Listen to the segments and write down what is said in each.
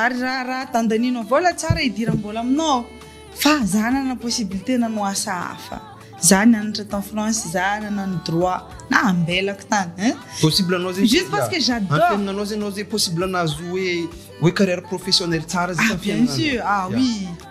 Ary raha raha dandaninao vola tsara idiram bola aminao aho fa za nanana possibilité nanao asa hafa za nianatra tany France za nanano droit na ambelako tany hein possible anao zegny juste parce que j'adore antenagnanao zegny anao zegny possible nahazo hoe hoe carrière professionnelle tsara zay ah bien sûr ah oui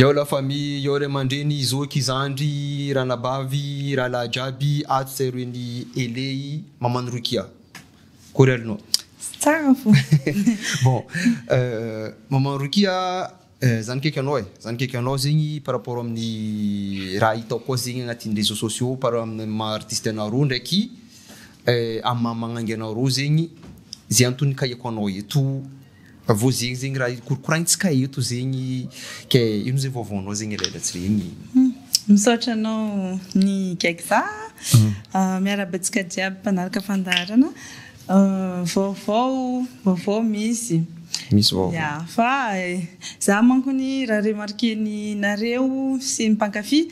Yao la famille, yao ray aman-dreny, zoky, zandry, ranabavy, rahalahy jiaby ato sy aorian' i Eley, maman'i Rokia. Akory aloha no. Tsy tsara ny fomba. Bon, maman'i Rokia, za nikaiky anao e, za nikaiky anao zegny par rapport amin'ny raha hitako koa zegny agnatin'ny réseaux sociaux par amin'ny maha artiste anareo ndraiky amin'ny maha magnangy anareo zegny, ze anton'ny nikaiako anao eto. Vao zegny zegny raha io korokoraigny tsy kay eto zegny ke ino ze vaovaonao zegny elaela tsy regny. Misaotra anao ny Gexa a! Miarahaba antsika jiaby mpanaraka fandaharana. Vaovao, vaovao misy. Misy vaovao. Ya, fa za mankony raha remarquer ny nareo sy ny mpankafy.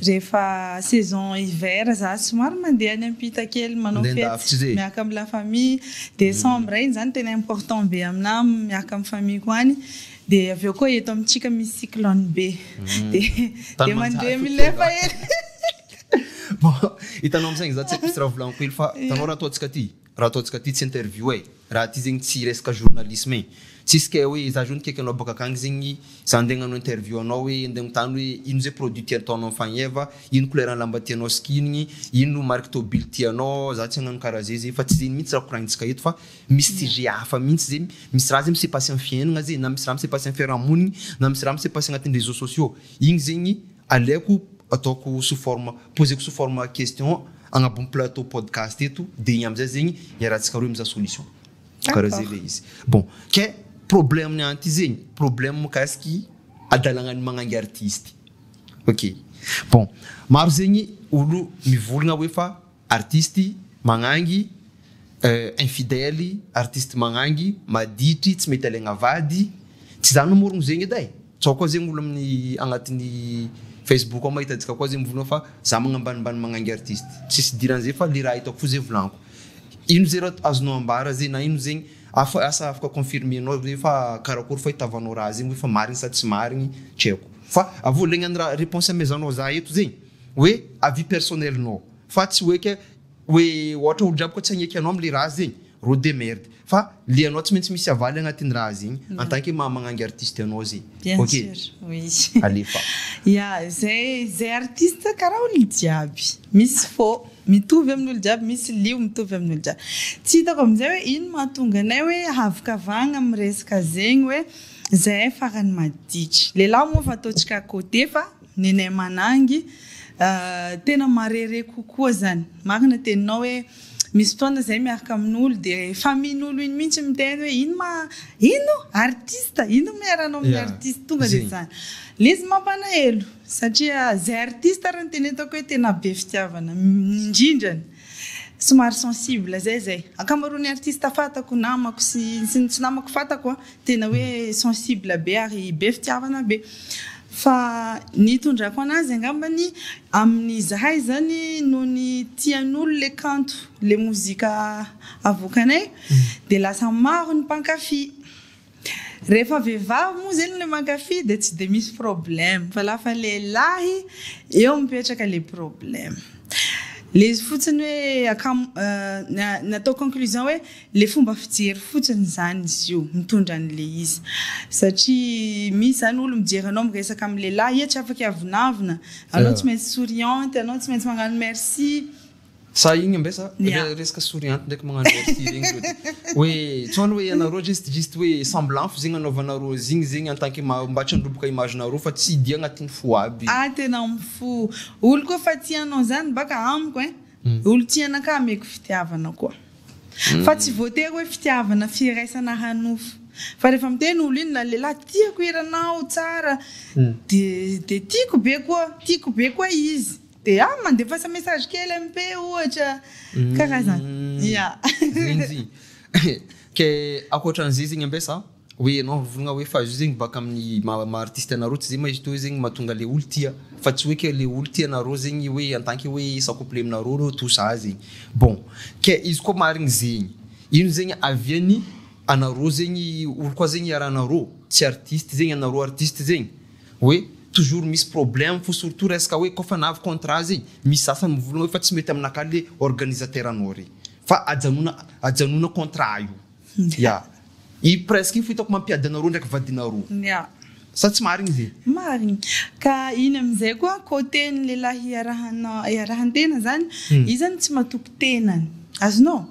Rehefa saison hiver za somary mandeha any ampita kely manao fety miaraka amin'ny la famille. Décembre iny zany tena important be aminà miaraka amin'ny famille-ko any. Dia avy eo koa eto amintsika misy cyclone be. Dia mandeha milefa hely. Hitanao am'saigny za tsy haiko mihitsy raha volagniko hely fa hitanao raha ataontsika ty? Raha ataontsika ty tsy interview e! Raha ty zegny tsy resaka journalisme e! Tsisy kay hoe za zao nikaiky anao bôka akagny zegny, za ndeha agnano interview anao hoe ndeha agnotany hoe ino zay produit ty ataonao mifagneva, ino couleur ny lamba tianao sikinigny, ino marque tôbily tianao, za tsy agnano karaha zay zay fa tsy zegny mintsy raha koragnintsika eto fa misy sujet hafa mintsy zay, misy raha zay mi se passe am fiaignagna zay na misy raha mi se passe am fiarahamonigny na misy raha mi se passe agnatin'ny réseaux sociaux igny zegny, Aleoko ataoko sous forme, poseko sous forme question agnabon'ny plateau podcast eto dia igny amizay zegny iarahantsika roe mizaha solution. Karaha zay le izy. Bon, ke problème ny ahy ty zegny, problème mikasiky adalagnan'ny magnangy artiste. Ok, bon maro zegny olo mivolagna hoe fa Artistes magnangy eh, infidèles, artistes magnangy, maditry, tsy mety alaigna vady, tsy za namorogno zegny edy eh, tsao koa zegny olo amin'ny agnatiny Facebook ao mahita antsika koa zegny mivolagna fa za magnambanimbany magnangy artistes, tsisy idiran'ny zay fa le raha hitako fo zay volagniko, ino zay raha azonao ambara zay na ino zegny afa asa afaka confirmer nao ve fa karakory fahitavanao raha zegny hoe fa marigny sa tsy marigny tsy haiko fa avy eo legna ny raha réponse amezahanao za eto zegny. hoe avis personnel nao fa tsy hoe ka hoe ohatra olon-draha boka tsy hagneky anao amle raha zegny rô de merde fa le anao tsy maintsy misy avaly agnatin'ny raha zegny en tant que maha magnangy artiste anao zegny Bien ok sûr, oui. alefa. Ya, zay zay artiste karaha olona jiaby, misy fô mitovy amin'olo jiaby, misy lio mitovy amin'olo jiaby. Tsy hitako amin'izay hoe ino mahatonga anay hoe havokavagna amin'ny resaka zegny hoe zahay farany maditra. Lehilahy moa efa ataontsika à côté fa Nene Manangy, Tena marere kokoa zany. Marina teninao hoe misy fotoana zay miaraka amin'olo de famihin'olo iny mihitsy miteny hoe ino ma ino artiste ino ma iharanao amin'ny artiste tonga de zany. Le izy mampalahelo satria zay artiste ary no tena hitako hoe tena be fitiavana indrindra ny somary sensible zay zay. Ankamaroan'ny artiste fatako namako sy ny tsy namako fatako a Tena hoe sensible be ary be fitiavana be. Fa ny itondrako anazy angambany amin'ny zahay izany noho ny tian'olo le kanto le mozika avoakanay de lasa maro ny mpankafy. Rehefa vehivavy moa zeny le mankafy de tsy de misy problème fa lafa lehilahy eo mipetraka le problème. Le izy fotsiny hoe akam- nataoko conclusion hoe. Le fomba fijery fotsiny zany izy io mitondra an'le izy satria misy zany olo mijery anao miresaka am lehilahy iha tsy afaka hiavonavona anao tsy maintsy souriante anao tsy maintsy magnano merci Sa igny ambe sa le resaka souriante ndraiky magnano merci regny zao de hoe tsao ny hoe ianareo juste juste hoe semblant fo zegny anaovanareo azy igny zegny en tant que mba tsy handroboka image nareo fa tsy dia agnatin'ny fo aby. Ah tena mifo olo koa fa tia anao zany baka amiko ein olo tia anakahy ameko fitiavana koa. Fa tsy voatery hoe fitiavana firaisana hanofo fa rehefa miteny olo iny na lehilahy tiako hiranao tsara de de tiako be koa tiako be koa izy de ah mandefasa message kely MP ohatra karazana ya. Rinjy. Ke akoatran'izay zegny ambesa. Hoe ianao mivolagna hoe fa izy io zegny baka amin'ny maha maha artiste anareo tsy zay ma izy toy zegny mahatonga le olo tia fa tsy hoe ke le olo tia anareo zegny hoe en tant que hoe sa couple aminareo reo tout ça zegny bon ke izy koa marigny zegny ino zegny avian'ny anareo zegny olo koa zegny iarahanareo tsy artiste zegny anareo artiste zegny hoe toujours misy problème fo surtout resaka hoe kô fa nahavy contrat zegny misy sasany mivolagna hoe fa tsy mety aminakahy le organisateur anao re fa ajanona ajanona contrat io Ya. I presque iny fo hitako mampiady anareo ndraiky vadinareo. Ya. Sa tsy marigny ze? Marigny. Ka iny amizay koa cote ny lehilahy iarahanao iarahan-tena zany, izy zany tsy matoky tenany. Azonao?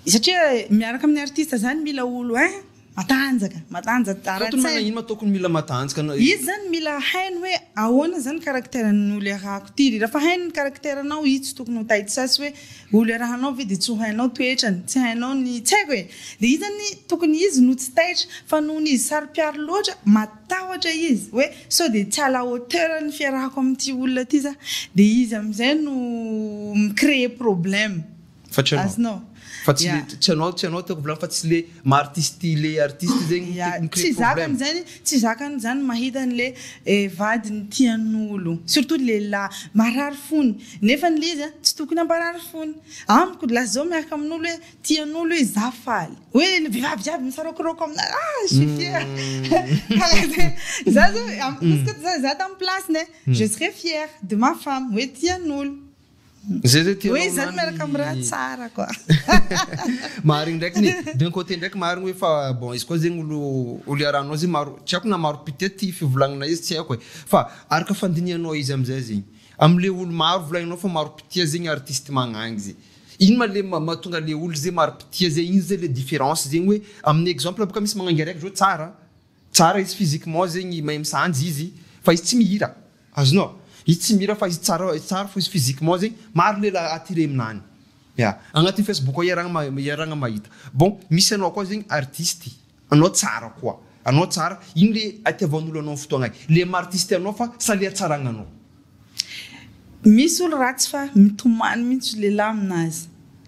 Satria miaraka amin'ny artiste zany mila olo hein, matanjaka, matanjaka ara-tsaina. Surtout ny managn'ino ma tokony mila matanjaka na. Izy zany mila hainy hoe ahoana zany caractère-n'olo iarahako ty. Rehefa hainy ny caractère-nao, izy tsy tokony ho taitsy sasy hoe. Olo iarahanao ve dia tsy ho hainao toetrany, tsy hainao ny tsy haiko e! Dia iza ny tokony izy no tsy taitra fa noho ny izy saropiaro loatra, matahotra izy hoe sao dia tsy à la hauteur ny fiarahako amin'ity olona ity za, dia izy amin'izay no mi-creer problème. Fa tsy ianao. Azonao. Fa tsy le, tsy ianao, tsy ianao tiako volana fa tsy le maha artiste le artiste zegny no mi-creer problème. Tsy zaka ny zany. Tsy zakany zany mahita anle vadiny tianolo surtout lehilahy marary fony nefany le izy a tsy tokony hamparary fony amiko lasa zao miaraka aminolo hoe tianolo hoe za faly hoe le vehivavy jiaby misaraokiraoka amina ah je suis fière karaha zay za zao amiko koa za tamy plasiny e je serais fière de ma femme hoe tianolo. Zay zay tianao Hoe zany miaraka amin'ny raha tsara quoi. Marigny ndraiky ny d'un côté ndraiky marigny hoe fa bon izy koa zegny olo olo iarahanao zegny maro tsy haiko na maro pitié ty fivolagnana izy tsy haiko e fa araka fandinihanao izy amizay zegny amle olo maro volagninao fa maro pitié zegny artiste magnagny ze ino ma le ma- mahatonga le olo ze maro pitié ze ino ze le différence zegny hoe amin'ny exemple boka misy magnangy araiky zao tsara Tsara izy physiquement zegny mahay misanjy izy fa izy tsy mihira azonao izy tsy mihira fa izy tsara tsara fo izy physiquement zegny maro lehilahy attiré aminany ya agnatin'ny facebook ao iarahagna ma- iarahagna mahita bon misy anao koa zegny artiste anao tsara koa anao tsara ino le itiavan'olo anao fotoagna le maha artiste anao fa sa le hatsaragnanao Misy olo ratsy fa mitomany mintsy lehilahy aminazy.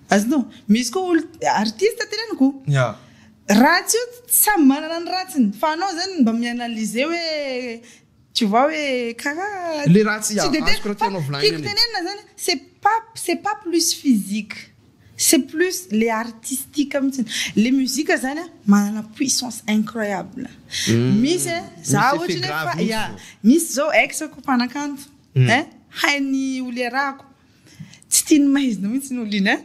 Azonao? Misy koa olo artiste teneniko. Oh. Yeah. Ratsy io samy manana ny ratsiny fa anao zany mba mi-analyser hoe tu vois hoe karaha le ratsy tsy de tena fa tiako tenenina zany c'est pas c'est pas plus physique. C'est plus le artistique mitsiny. Le musique zany an manana puissance incroyable. Misy e, za ohatry ny hoe ya, misy zao ex-ko mpanakanto ein, hainy ho liarahako, tsy tia ny maizina mitsy ny olo iny ein.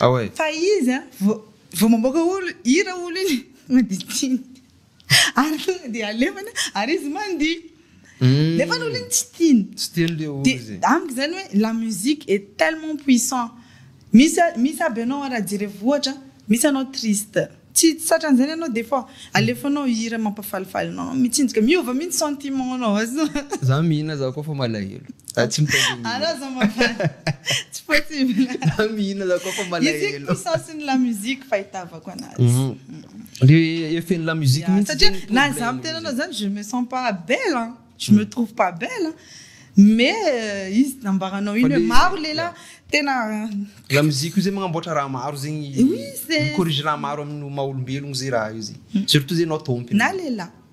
Ah ouais. Fa izy an, vao mamoaka olo, hira olo iny, maditiny. Ary tonga dia alefany ary izy mandihy. Nefa ny olona tsy tiany. Tsy tiany le olo izay. Dia amiko izany hoe la musique est tellement puissant. Misy misy aby ianao raha jerevy ohatra, misy ianao triste. Tsy tsy tratran'izany ianao des fois. Alefanao hira mampafalifaly anao, mitsinjaka. Miova mihitsy sentiment-nao. Za mihina za koa fa malahelo. Za tsy mitady olona. Anao zao mafaly. Tsy possible. Za mihina za koa fa malahelo. Izy koa sens-n'ny la musique fahitavako anazy. Le effet ny la musique mintsy Satria zany na izaho problème miteny anao zany je me sens pas belle an, je me trouve pas belle an, mais izy nambaranao Fa iny hoe le- maro lehilahy tena La musique io zay magnamboatra raha maro zegny Oui, c'est- mi-corrige raha maro amin'ny maha olombelogno zay raha io zay. Surtout zay anao tompony. na lehilahy.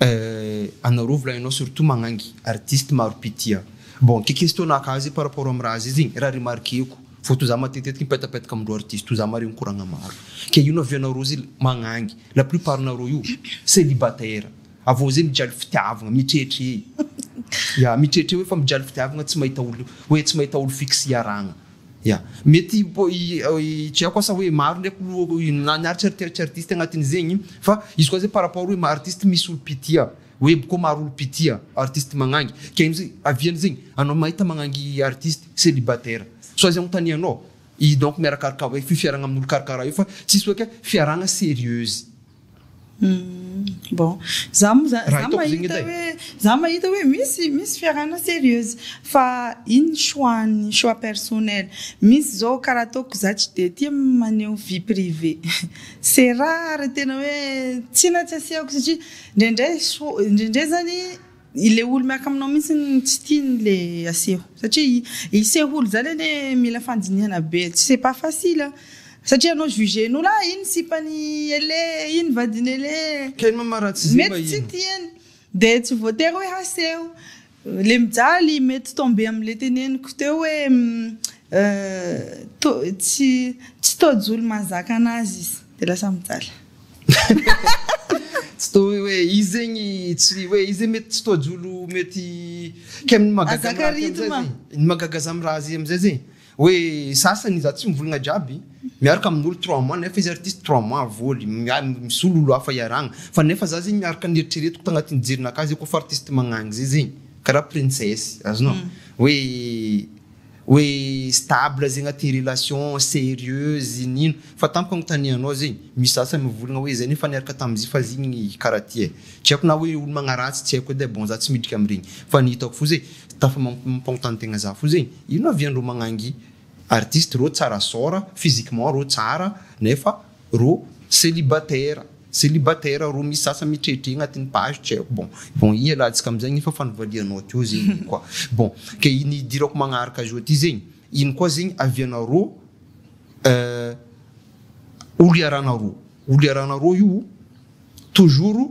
Eh ana rov la enao surtout magnangy artiste maro pitia bon ke questionaka azy par rapport am raha zezigny raha remarqueko vao to za matetetiky mipetapetaka amindreo artiste to za mare mikoragna maro ke ino avy anareo zy magnangy la plus part nareo io celibataire avao ze mijaly fitiavagna mitretre ya mitretre hoe fa mijaly fitiavagna tsy mahita olo hoe tsy mahita olo fixe hiaragna Ya. Mety hitreako asa hoe maro ndray na ny artiste tsy artiste agnatin'izegny fa izy koa zay par rapport hoe artiste misy olo mpitia hoe boko maro olo mpitia artiste magnangy ke amzay avy amzegny anao mahita magnangy artiste celibataire sao izy agnontanianao i donc miarakaraka hoe fifiaragna amin'olo karakaraha io fa tsisy hoe ke fiarahagna serieuse. Bon, za moa zany, za mahita hoe, za mahita hoe misy, misy fiarahana serieuse, fa iny ny choix-ny, choix personnel. Misy zao karaha ataoko za tsy de tia maneho vie privée, c'est rare tena hoe, tsia na tsy asiako satria, ndraindray soa, ndraindray zany. Ilay olo miaraka aminao mintsy no tsy tiany le aseho satria hiseho olo zany anie mila fandinihana be tsy c'est pas facile a! satria anao jugen'olo ah iny sipan'i Elé iny vadin'i Elé mety tsy tiany de tsy voatery hoe haseho le mijaly mety tomber amle teneniko teo hoe to- tsy tsy tojo olo mahazaka anazy izy de lasa mijaly. Tsy toa hoe izy zegny tsy hoe izy mety tsy toa jolo mety kay ny magaga amizay zegny ny magaga za amiraha zay amizay zegny hoe sasany za tsy mivolagna jiaby miaraka aminolo trois mois nefa izy artiste trois mois voly misolo olo hafa iarahana fa nefa za zegny miaraka ny eritreretiko tagnatin'ny jerinakà zay kôfa artiste magnagny zay zegny kara princesse azonao hoe Hoe stable zegny aty relation serieuse inino fa tamiko agnotanianao zegny misy sasany mivolagna hoe zay nefa niaraka tamzio fa zigny karaha ty ai tsy haiko na hoe olo magnaratsy tsy haiko edy ai bon za tsy midriky amregny fa ny hitako fo ze tafa mampagnontany tegna za fo zegny ino avy andreo magnangy artiste reo tsara sort physiquement reo tsara nefa Roa, célibataire, célibataire roa misy sasany mitredre agnatin'ny page tsy haiko bon, bon ialatsika amizay anie fa fa nivalianao teo zegny igny koa bon, ke ny idirako magnaraka azy eo aty zegny ino koa zegny avy anarô olo iarahanarô, olo iarahanarô io toujours.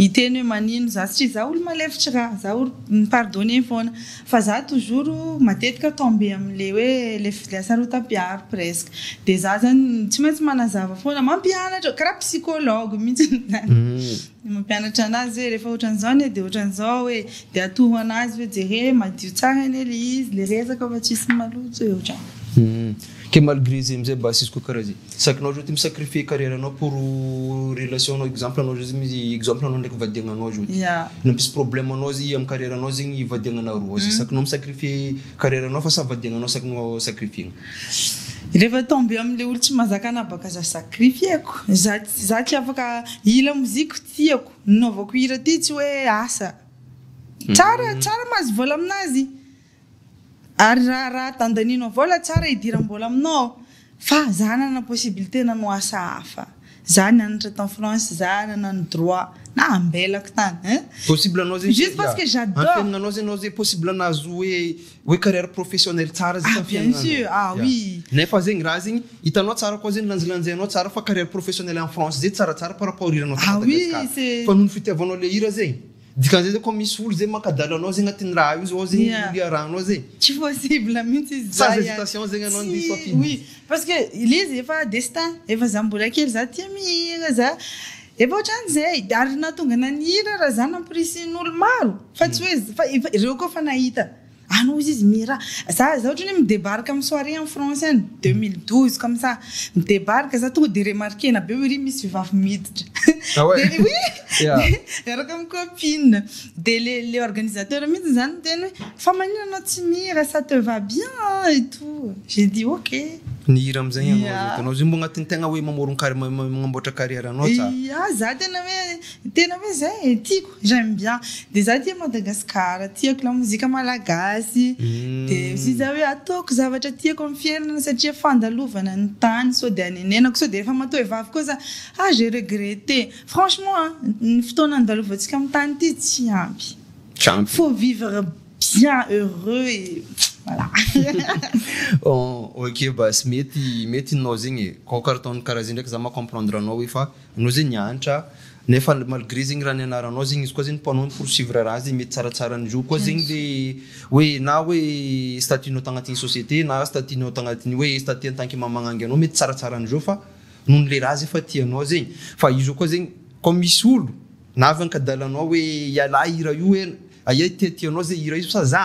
Hiteny hoe manino za satria za olo malefitra ka, za olo mi-pardonner foana, fa za toujours matetika tomber amin'le hoe le hasarotam-piaro presque, de za zany tsy maintsy manazava foana, mampianatra, karaha psychologue mihitsy zany, mampianatra anazy hoe rehefa ohatran'izao anie de ohatran'izao hoe, de atoro anazy hoe jereo hoe madio tsara anie le izy, le resaka fa tsisy maloto e, ohatran'izany. Ke malgré zay amzay mba asisiko kara zay sakinao zao ty mi sacrifier carrière nao pour relation nao exemple anao zao zany exemple anao ndraiky vady agnanao zao ty nampisy problème anao zay amy carrière nao zegny vady agnanao roa zay sakinao mi sacrifier carrière nao fa sa vady agnanao sakinao sacrifier-gna. Refa tombe amle olo tsy mazaka anabaka za sacrifier-ko za za tsy afaka hila moziko tiako nanaovako hira ty tsy hoe asa tsara tsara mahazo vola aminazy. Ary raha raha dandanino avao ilay tsara hidiram-bola aminao aho fa za nanana possibilité nanao asa hafa, za nianatra tany France, za nanano droit na ambelako tany hein. Possible anao zegny juste parce que j'adore. Antenagnanao zegny anao ze possible nahazo hoe hoe carrière professionnelle tsara zegny tamy fiainanao. Ah bien sûr ah oui. Nefa zegny raha zegny hitanao tsara koa zegny lanjalanjainao tsara fa carrière professionnelle any France zegny tsaratsara par rapport hiranao tany Madagascar. Ah oui c'est. Fa noho ny fitiavanao le hira zegny. Dikan'izay zao koa misy olo zay mankadalo anao zay agnatin'ny raha io zao ao zay olo iarahanao zay. Tsy possible mintsy izy zay an. Sans hesitation zegny anao andeha safidy. Oui parce que le izy efa destin, efa za mbola kely za tia mihira za efa ohatran zay, ary nahatonga anah nihira raha za nampirisihin'olo maro fa tsy hoe, fa efa, reo koa efa nahita. Any ozy izy mira. Za za otrany midebarque am soirée en France any deux mille douze comme ça midebarque za tonga de remarquena be oe ry misy vevavy miditra Ah ouais? de oui Ya. de miaraka am copine de le le organisateur mitsy zany miteny oe fa manina anao tsy mira ça te va bien an et tout j'ai dit ok. Ny hira amzay ianao Ya. zay ataonao zay mbo agnatin tegna oe mamoron-kari- ma- ma- magnamboatra carrière anao tsa? Ya za tena oe Tena hoe zay e, tiako, j'aime bien, de za tia Madagascar, tiako lamozika malagasy, de aussi za hoe ataoko zavatra tiako amin'ny fiainana satria fandalovana ny tany sao dia anenenako, sao dia rehefa matoa hoe vavy koa za ah j'ai regretté, franchement a, ny fotoana andalovantsika amin'ny tany ity tsy ampy, Tsy ampy. faut vivre bien heureux et voilà. Ok basy, mety mety ninao zegny e, aoka ataon'ny karaha zay ndraiky za maha comprendre anao hoe fa. Anao zegny nianatra nefa malgré zegny raha nianaranao zegny izy koa zegny mpanao ny poursuivre raha zegny mety tsaratsara an'izao koa zegny le hoe na hoe statut nao tagnatin'ny société na statut nao tagnatin'ny hoe statut en tant que mamangangy anao mety tsaratsara an'izao fa nohon'ny le raha zay fa tianao zegny fa io zao koa zegny comme misy olo na avy ankadalanao hoe ialahy hira io hoe aia tiatianao zay hira io sa za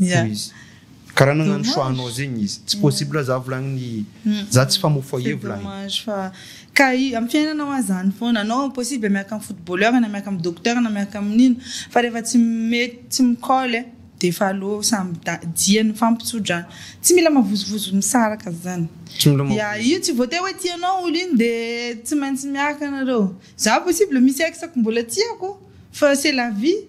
hoy izy. Karaha nagnano choix anao zegny izy. Tsy possible za volagniny za tsy mpamoha foyer volagniny. C'est dommage fa ka i am fiainana hoa zany foana anao possible miaraka am footballeur na miaraka am docteur na miaraka am nino fa refa tsy mety tsy mi colle defa aleo samy da dia ny fampitsodrana tsy mila mavozovozo misaraka zany Tsy mila mavozo. Ya io tsy voatery hoe tianao olo iny de tsy maintsy miaraka nareo za possible misy ex ko mbola tiako fa c'est la vie.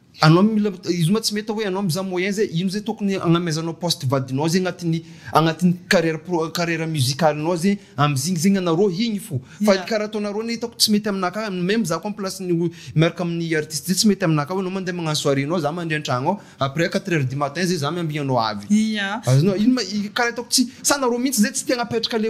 Anao mila izy ma tsy mety hoe anao mizaha moyen zay ino zay tokony agnamezanao poste vadinao zay agnatin'ny agnatin'ny carrière pro carrière musicale nao zay amizigny zegny anareo igny fo fa ny karaha ataonareo ne hitako tsy mety aminah ka même za ko am place ny miaraka amin'ny artiste zay tsy mety aminah ka hoe anao mandeha magnano soirée nao za mandry antragno ao après quatre heures du matin zay za miambigny anao avy azonao ino ma karaha hitako tsy sa nareo mintsy zay tsy te agnapetraka le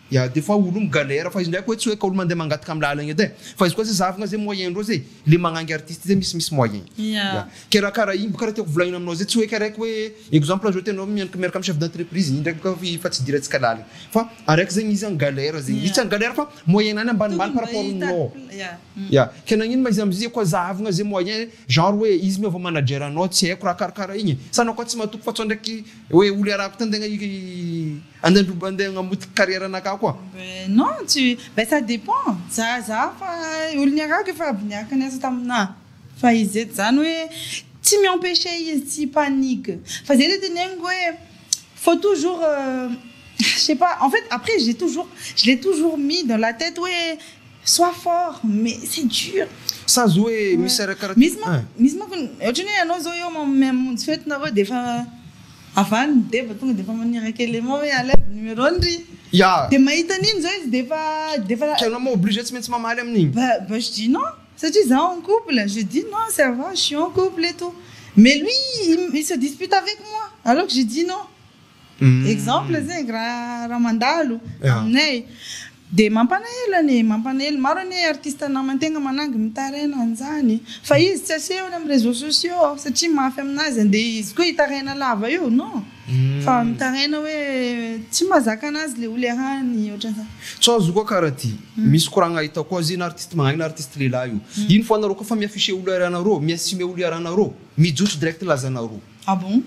Ya de fa olo mi galère fa izy ndraiky oe tsy oe ka olo mandeha mangataka am lalagna edy e fa izy koa ze zahavina ze moyen ndreo ze le magnangy artiste ze misy misy moyen ya kera kara igny bôka ra tiako volagnina aminao ze tsy oe ka raiky oe exemple ohazo ohatry anao mianaka miaraka am chef d'entreprise igny ndraiky bôka efa tsy idirantsika lalagna fa araiky zegny izy an galère zegny izy tsy an galère fa moyen nany ambanimbany par rapport aminao ya ke nagnino ma izy am ze koa zahavina ze moyen genre oe izy miova manager anao tsy aiko ra kara kara igny sa anao koa tsy matoky fa sao ndraiky oe olo iarahako tan-tegna i. Andandro mba ndeha hagnamotika carrière anakah koa. Ben non tu ben ça dépend za za fa olo niarahako efa aby niaraka niasa taminah fa izy eto zany hoe tsy mi empecher izy tsy hipanique fa zay le teneniko hoe faut toujours je sais pas en fait après j'ai toujours je l'ai toujours mis dans la tête hoe soit fort mais c'est dur Sazy hoe misy arakaraka misy manko misy manko ohatrany hoe anao zao eo mamonjy fety nareo de efa. Avy any ny deba tonga dia efa maniraka élément hoe alaivo numéro-ny ry. Ya. Dia mahita an'iny izao izy dia efa, dia efa. Ka ianao moa obligé tsy maintsy mamaly amin'iny. Ba, ba je dis non, satria za en couple, je dis non ça va, je suis en couple et tout. Mais lui il se dispute avec moi alors que je dis non. Exemple zegny raha, raha mandalo aminay. Dia mampanahelo anie, mampanahelo. Maro anie artiste namantegna manangy mitaraina an'izany. Fa izy tsy asehony amin'ny réseaux sociaux aho satria mafy aminazy andeha izy koa hitaraina lava eo, non? Fa mitaraina hoe tsy mahazaka anazy le oly arahany ohatran'izany. Tsy azo koa kara ty. Misy koragna hita koa azy io na artiste magnahy na artiste lehilahy io. Ino fo anareo koa fa mi-afficher olo arahanareo, mi-assumer olo arahanareo, mijotso direct lazanareo. Ah bon?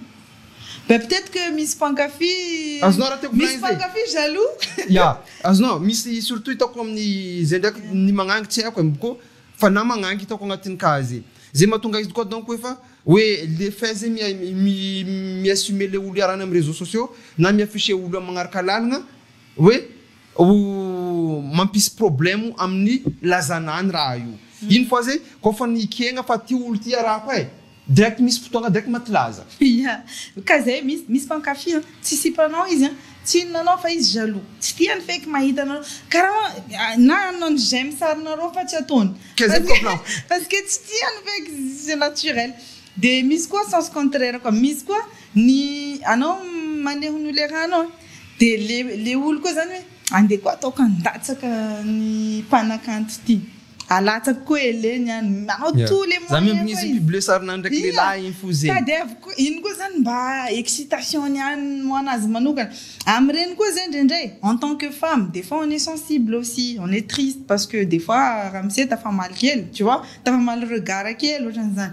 Ben peut-être que misy mpankafy Azonao raha tiako misy volaina izay. mpankafy jaloux. Ya, azonao, misy surtout hitako amin'ny izay ndraiky ny magnangy tsy haiko eh, ko fa na magnangy hitako agnatin'ny cas zay. Zay mahatonga izy koa donc efa hoe le fait zay mi mi mi-assumer le olo iarahana amin'ny réseaux sociaux na mi-afficher olo amin'ny magnaraka lalagna hoe, Ho mampisy problemo amin'ny lazana any raha io. Iny fa zay ko fa nikegna fa ty olo ty arahako e! Direct misy fotoagna direct maty laza. Ya, ka zay misy misy mpankafy an, tsy sipa anao izy an, tsy inona anao fa izy jaloux, tsy tiany feky mahita anareo, karaha hoa na hanao ny j'aime sarinareo fa tsy ataony, Ka zay ko plan. parce que tsy tiany feky, c'est naturel, de misy koa sens contraire koa, misy koa ny anao maneho ny ho lerahanao an. Dia le le olo koa zany hoe andeha koa ataoko handatsaka ny mpanakanto ity. Alatsako koa ele ny any. Manao tout le moyen koa izy. Za mihitsy mi-publier sarinany ndraiky lehilahy iny fo zegny. Tadiaviko koa, iny koa zany mba excitation-ny any ho anazy manokana. Amin'ireny koa zay indraindray en tant que femme des fois on est sensible aussi, on est triste parce que des fois ramose tafamaly kely tu vois, tafamaly regard kely ohatran'izany.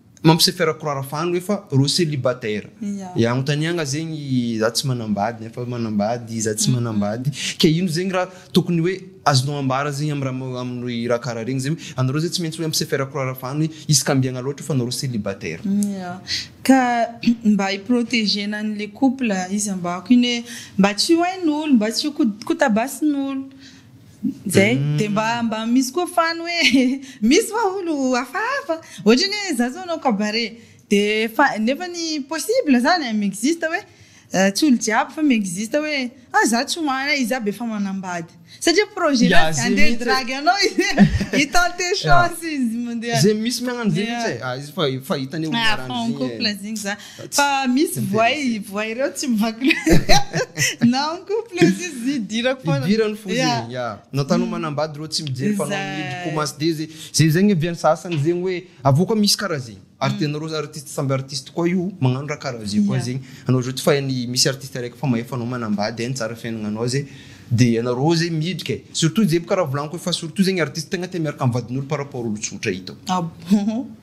Mampiseho firakorara fa any efa reo celibataire e anontaniagna zegny za tsy manambady nefa manambady za tsy manambady ke ino zegny ra tokony hoe azonao ambara zegny am ra aminy ra kara regny zegny hoe anareo zegny tsy maintsy hoe ampiseho firakorara fa any hoe izy ka ambiagna loatra fa nareo celibataire. Ya ka mba hi proteger-na any le couple izy ambako iny hoe mba tsy ho hain'olo mba tsy ho kotabasin'olo Zay. Dia mba mba misy koa fan hoe misy va olo hafahafa? Ohatrany hoe za zao hanao cabaret dia efa nefa ny possible zany an, mi-existe hoe tsy olo jiaby fa mi-existe hoe ah za tsy hoan a, iza be efa manambady. Satria projet na dia handeha hidragy anao izy hi-tenter chance izy mandeha. Ze misy miagnany ze mihitsy e. Fa fa hitany hoe omaran-dry e. Ah fa en couple zegny za. Fa misy voay, voay ireo tsy mivaky loha. Na en couple izy izy idirako foana. Idirany fo ze. Ya. Na tano manambady ireo tsy mijery fa anao mihidy komasy dia ze. Ze zegny avy any sasany zegny hoe avy eo koa misy karaha ze. Ary tianareo artiste samby artiste koa io magnano raha karaha ze koa zegny. Anao zao tsy fain'ny misy artiste araiky efa mahefa anao manambady hainy tsara fiainagnanao ze. Dia ianareo ze midriky e. Surtout ze bôka raha volagniko hoe fa surtout zegny artiste tegna tia miaraka am'vadin'olo par rapport olo tsotra hitako. Ah bon.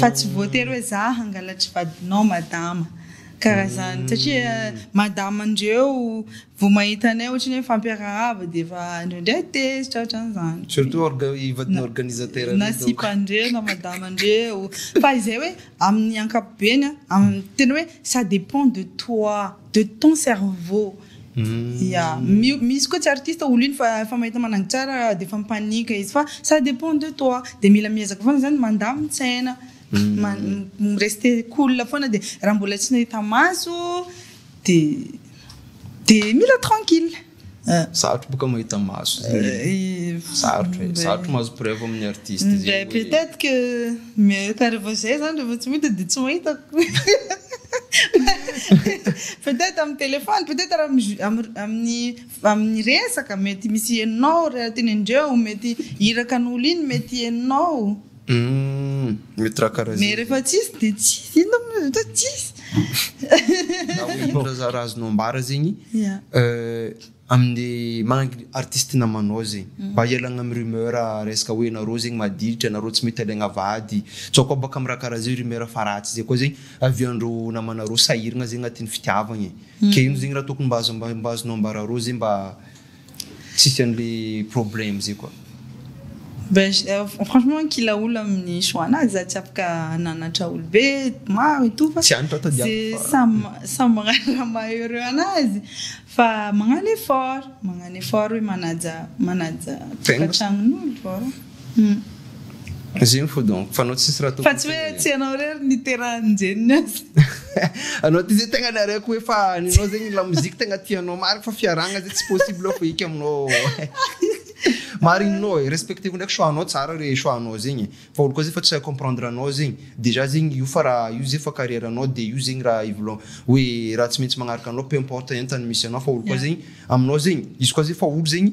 Fa tsy voatery hoe za hangalatry vadinao madama karaha zany satria madama andreo vo mahita anay ohatry ny hoe mifampiarahaba de efa andreo ndray tezitra ohatran zany Surtout orga- i vadin'ny organisateur na reo donc. sipandreo na madamandreo fa izay hoe amin'ny ankapobeny a am- tena hoe ça depend de toi. De ton cerveau ya misy koa tsy artiste olo iny fa efa mahita managy tsara de efa mi-panique izy fa ça depend de toi de mila miezaka foana zany mandamy tsaina mi rester cool foana de raha mbola tsy nahita maso de de mila tranquille. Sarotra boka mahita maso zany. Sarotra e, sarotra mahazo preuve amin'ny artiste zegny hoe. Peut être que mais ka revo zay zany revo tsy mahita de tsy mahita peut être amin'ny téléphone peut être amin'ny amin'ny resaka mety misy henonao raha teny an-dreo mety irakan'olo iny mety henonao. Hum, mety raha karaha Mais rehefa tsisy dia tsisy, inona moa izany hoe tsisy? Na hoe ino raha za- raha azonao ambara zegny, Yeah. euh, amin'ny maha artiste namanao zegny, mba hialagna amin'ny rumeur resaka hoe nareo zegny madilitra, nareo tsy mety alaigna vady, tsaoka baka amin'ny raha karaha zay rumeur fa ratsy zay koa zegny avy andreo namanareo sahiragna zegny agnatin'ny fitiavagna e, ke ino zegny raha tokony mba azo mba azonao ambara arô zay mba Tsisy anle problème zay koa. Franchement nkilaola amin'ny choix anazy za tsy afaka hananatra olo be maro et tout fa Tsy any tantody ato ze fa. samy samy magnano raha maha heureux anazy fa magnano effort magnano effort hoe manaja manaja Tegna. tokantragnon'olo. Humm. Ziny fo donc, fa anao tsisy raha tokony Fa tsy hoe tsy ianao irery niterahan'i Jenny aza. Anao ty zay tegna nareko hoe fa ny anao zegny lamoziky tegna tianao marigny fa fiarahagna zay tsy possible fo eky aminao marigninao e respecteko ndraiky choix anao tsara re choix anao zegny e fa olo koa zay efa tsy comprendre anao zegny dejà zegny io fa raha io zay fa carrière anao de io zegny raha ivolagnao hoe raha tsy maintsy magnaraka anao peu importe entana misy anao fa olo koa zegny aminao zegny izy koa zay efa olo zegny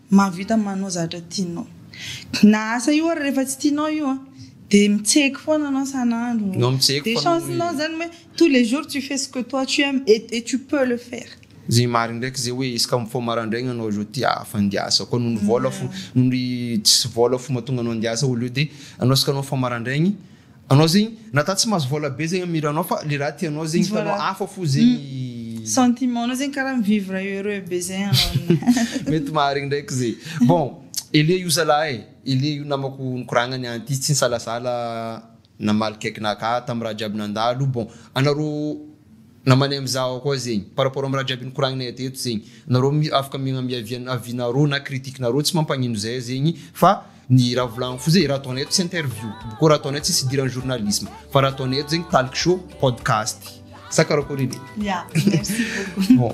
Mahavita ny manao zatra tianao. Na asa io ary rehefa tsy tianao io an, dia mitseky foana anao san'andro. No mitseky Dia foana chance nao zany hoe tous les jours tu fais ce que toi tu aimes et et tu peux le faire. Ze marigny ndraiky ze hoe izy ka mifoha marandraigny anao zao te hafa handiasa koa noho ny vôla fo noho ny tsisy vôla fo mahatonga anao handiasa au lieu de anao izy ka anao mifoha marandraigny Anao zegny nata tsy mahazo vola be zegny am hiranao fa le raha tianao zegny hitanao hafa fo zegny. Sentiment nao zegny karaha mi-vivre heureux be zay anao aminay. Mety marigny ndraiky ze. Bon, Elie io zalahy e, Elie io namako nikoragnany an ty tsy nisalasala namaly cake naka tam raha jiaby nandalo, bon anareo, Na maneha am zaho koa zegny. Par rapport am raha jiaby nikoragnina eto eto zegny. Nareo mi afaka miagnambia avian avis nareo na critique nareo tsy mampagnino zay zegny fa ny raha volagniko fo zegny raha ataonay eto tsy interview tompoko ô raha ataonay eto tsisy idiran'ny journalisme fa raha ataonay eto zegny talk show podcast sa karakory edy? Ya, merci beaucoup. Bon.